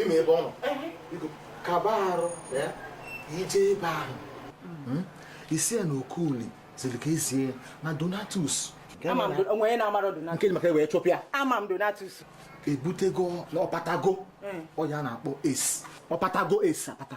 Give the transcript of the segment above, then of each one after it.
ime ebe ọ nọ kaba arụ ya ije ebe ahụ hmm? i sị ya na okoli ziri ka e zie ya na donatus nke maka wee chụpịa ama m donatus ebutego na ọpatago hmm. ọ ya na-akpọ es ọpatago es apata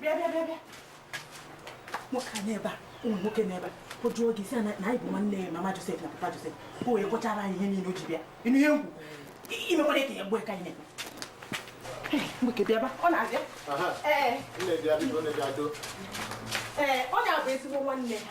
bịa bịa bịa nwoke a n'ebe a ụmụ nwoke n'ebe a ọ jụọ gị sị na anyị bụ nwanne mama Joseph na papa Joseph ka o wee kọchara anyị ihe niile o ji bịa ị nụ ihe m kwu imekwara ka ya gbuo ka anyị na-ekpe nwoke bịaba ọ na-abịa ee ọ na-abụ ezigbo nwanne ha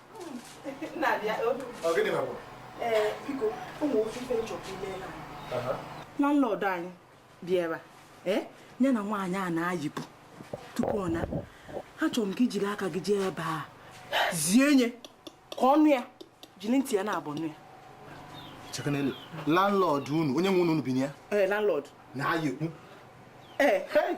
landlord anyị bịara eh, ya na nwaanyị a nna anyị ukwu tupu ọ naa achọrọ m ka i jiri aka gị jee ebe a zie nye ka ọ nụ ya jiri ntị ya naabọ nụ ya chekanelu landlord unu onye nwe ụnọ unu bi na ya ee eh, landlord nna anyị ukwu ee eh.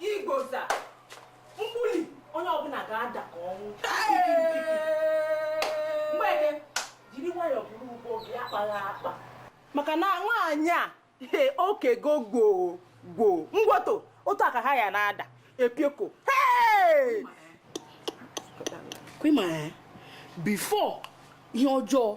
igboza mgbuli onye ọbụla ga-ada ka ọ nwụ mgbeke jiri nwayọọ buru ugbo gị akpaghị akpa maka na nwaanyị a okego gboo gboo ngwoto otu aka ha ya na-ada epioko kwima before ihe ọjọọ